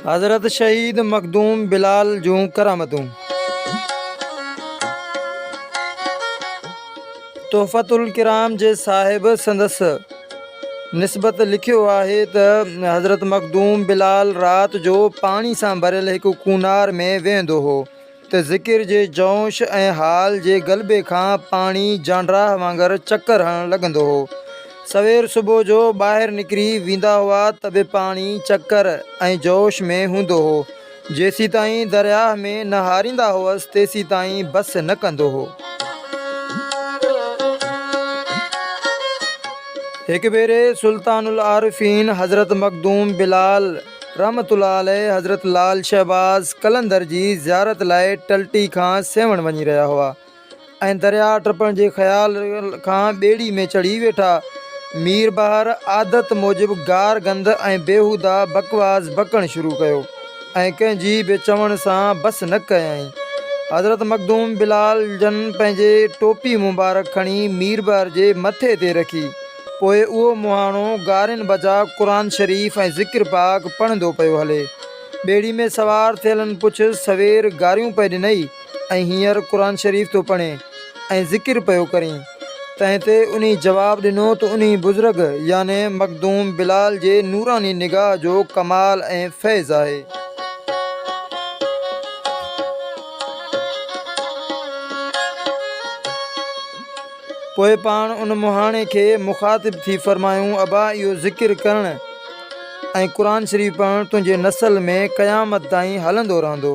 حضرت شهيد مخدوم بلال جون ڪرامتون تحفة الڪرام جي صاحب سندس نسبت لکيو آهي ته حضرت مخدوم بلال رات جو پاڻي سان ڀريل هڪ ڪونار ۾ ويهندو هو ته ذڪر جي جوش ۽ حال جي غلبي کان پاڻي جانڊراهه وانگر چڪر هڻڻ لڳندو هو. سوير صبح جو ٻاهر نڪري ويندا هئا ته به پاڻي چڪر ۽ جوش ۾ هوندو هو. جيسيتائين درياهه ۾ نه هاريندا هئس تيسيتائين بس نه ڪندو هو. هڪ ڀيري سلطان العارفين حضرت مخدوم بلال رحمة الله عليه حضرت لعل شهباز قلندر جي زيارت لاء ٽلٽي کان سيوهڻ وڃي رهيا هئا ۽ درياهه ٽپڻ جي خيال کان ٻيڙي ۾ چڙهي ويٺا. مير بهار عادت موجب گار گند ۽ بيهوده بڪواس بڪڻ شروع ڪيو ۽ ڪنهن جي به چوڻ سان بس نه ڪيائين. حضرت مخدوم بلال جن پنهنجي ٽوپي مبارڪ کڻي مير بهار جي مٿي تي رکي. پوء اهو مهاڻو گارين بجا قرآن شريف ۽ ذڪر پاڪ پڙهندو پيو هلي. ٻيڙي ۾ سوار ٿيلن پڇيس، سوير گاريون پئي ڏنئي ۽ هينئر قرآن شريف ٿو پڙهين ۽ ذڪر پيو ڪرين. تنهن تي انهي جواب ڏنو ته انهي بزرگ يعني مخدوم بلال جي نوراني نگاهه جو ڪمال ۽ فيض آهي. پوء پاڻ ان مهاڻي کي مخاطب ٿي فرمايون ابا اهو ذڪر ڪرڻ ۽ قرآن شريف پڙهڻ تنهنجي نسل ۾ قيامت تائين هلندو رهندو.